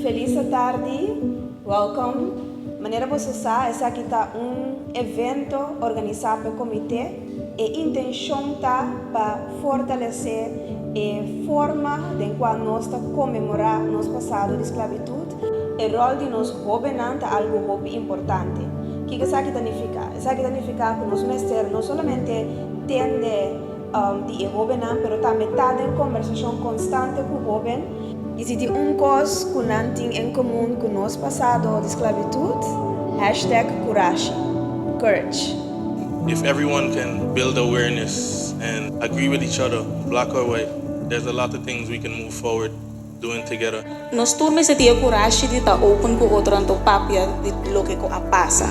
Feliz atardi, welcome. Manera boso a sa, esaki ta un evento organisa p'e comite. E intencion ta pa fortalece e forma den cual nos ta conmemora nos pasado di sclavitud. E rol di nos hobennan ta algo hopi importante. Kico esaki ta nifica? Esaki ta nifica cu nos mester no solamente tende. di e hóbennan, pero tambe ta den kombersashon konstante ku hóben. I si tin un kos ku nan tin en komun ku nos pasado di sklabitut, hashtag kurashi, courage. If everyone can build awareness and agree with each other, black or white, there's a lot of things we can move forward. doing together. Nos tur mester tin e kurashi di ta open ku otronan ta un papia di loke ku a pasa.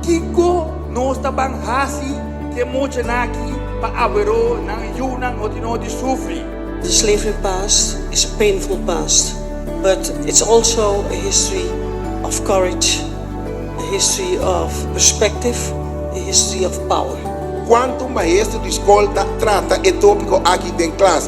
Kiko nos ta ban hasi ku e muchanan aki pa aver'o nan yunan hotinho di sufri? Slavery past is a painful past but it's also a history of courage, a history of perspective, a history of power. Cuanto maestro di scol ta trata e topico aki den clas?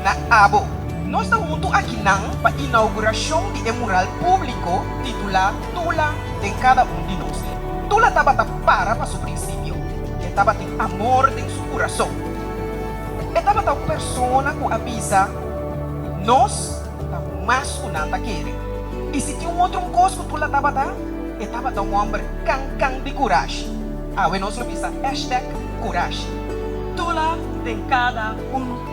na abo. Nos ta huntu aki nan pa inaugurashon di e mural públiko titulá Tula den kada un di nos. Tula tabata para pa su prinsipio. E tabatin amor den su kurason. E tabata un persona ku a bisa, Nos ta mas ku nan ta kere. I si tin un otro kos ku Tula tabata, e tabata un hòmber kan kan di kurashi. Awe nos lo bisa hashtag kurashi. Tula den kada un.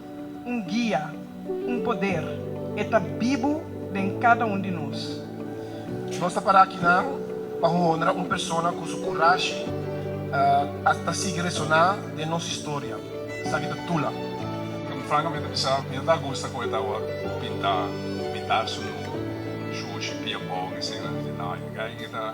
un guia, un poder, e ta bibu den kada un di nos. Nos ta para aki nan pa honra un persona ku su kurashi a ta sigui resoná den nos historia. Esaki ta Tula. Frankamente a bisa mi no ta gusta ku e tawa pintá mitá su nu, shushi, pia bòg, esei nan. Di nai, e ta.